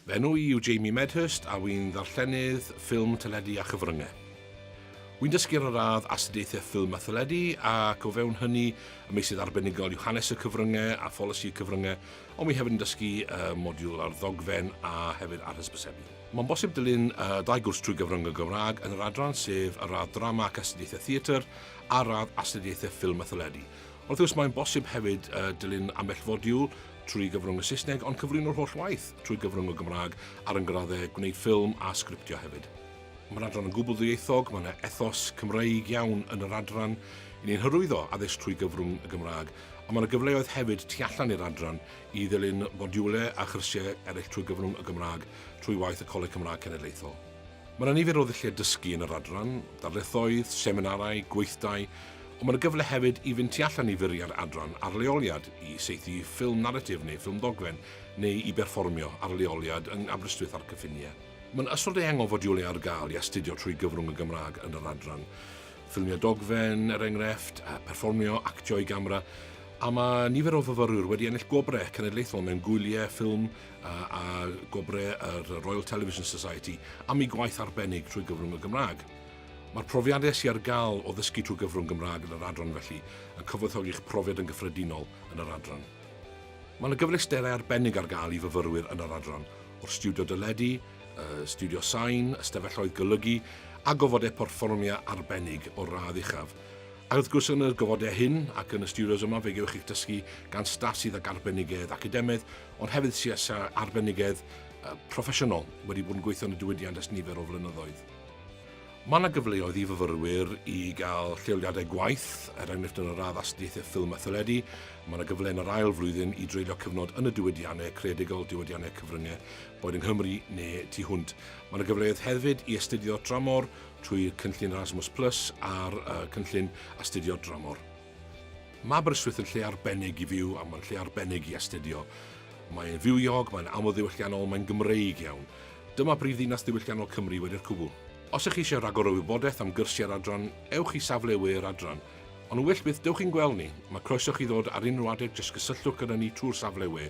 Fy enw i yw Jamie Medhurst a wy'n ddarllenydd ffilm, teledu a chyfryngau. Wy'n dysgu ar y radd Astudiaethau Ffilm a Theledu ac o fewn hynny y meysydd arbenigol yw Hanes y Cyfryngau a Pholisi y Cyfryngau ond wy hefyd yn dysgu y modiwl ar ddogfen a hefyd ar hysbysebu. Mae'n bosib dilyn y dau gwrs trwy gyfrwng y Gymraeg yn yr adran sef y radd Drama ac Astudiaethau Theatr a'r radd Astudiaethau Ffilm a Theledu Wrth gwrs, mae'n bosib hefyd dilyn ambell fodiwl trwy gyfrwng y Saesneg, ond cyflwyno'r holl waith trwy gyfrwng y Gymraeg ar yn graddau, gwneud ffilm a sgriptio hefyd. Mae'r adran yn gwbl ddwyieithog, mae yna ethos Cymreig iawn yn yr adran, i ni'n hyrwyddo addysg trwy gyfrwng y Gymraeg, ond mae yna gyfleoedd hefyd tu allan i'r adran i ddilyn fodiwlau a chyrsiau eraill trwy gyfrwng y Gymraeg trwy waith y Coleg Cymraeg Cenedlaethol. Mae yna nifer o ddulliau dysgu yn yr adran, darlithoedd, seminarau, gweithdai, ond mae yna gyfle hefyd i fynd tu allan i fwriad adran ar leoliad, i saethu ffilm naratif neu ffilm ddogfen, neu i berfformio ar leoliad yng Aberystwyth a'r cyffiniau. Mae yna ystod eang o fodiwlau ar gael i astudio trwy gyfrwng y Gymraeg yn yr adran. Ffilmiau dogfen, er enghraifft, perfformio, actio i gamera, a mae nifer o fyfyrwyr wedi ennill gwobrau cenedlaethol mewn gwyliau ffilm a gwobrau yr Royal Television Society am ei gwaith arbennig trwy gyfrwng y Gymraeg. Mae'r profiadau sy'n ar gael o ddysgu trwy gyfrwng Gymraeg yn yr adran felly yn cyfoethogi'ch profiad yn gyffredinol yn yr adran. Mae yna gyfleusterau arbennig ar gael i fyfyrwyr yn yr adran, o'r stiwdio deledu, y stiwdio sain, ystafelloedd golygu a gofodau perfformiau arbennig o'r radd uchaf. Ac wrth gwrs yn y gofodau hyn ac yn y stiwdios yma fe gewch chi'ch dysgu gan staff sydd ag arbenigedd academaidd Ond hefyd CS a arbenigedd proffesiynol wedi bod yn gweithio yn y diwydiant ers nifer o flynyddoedd. Mae yna gyfleoedd i fyfyrwyr i gael lleoliadau gwaith, er enghraifft yn yr radd astudiaethau ffilm a theledu, mae yna gyfle yn yr ail flwyddyn i dreulio cyfnod yn y diwydiannau creadigol, diwydiannau cyfryngau, boed yng Nghymru neu tu hwnt. Mae yna gyfleoedd hefyd i astudio dramor trwy Cynllun Erasmus Plus a'r Cynllun Astudio Dramor. Mae Aberystwyth yn lle arbennig i fyw a mae'n lle arbennig i astudio. Mae'n fywiog, mae'n amlddiwylliannol, mae'n Gymreig iawn. Dyma brif ddinas ddiwylliannol Cymru wedi'r cwbl. Os ych chi eisiau rhagor o wybodaeth am gyrsiau yr adran, ewch i safle we yr adran. Ond yn wyllt byth, dewch i'n gweld ni! Mae croeso chi ddod ar unrhyw adeg, jyst cysylltwch gyda ni trwy'r safle we.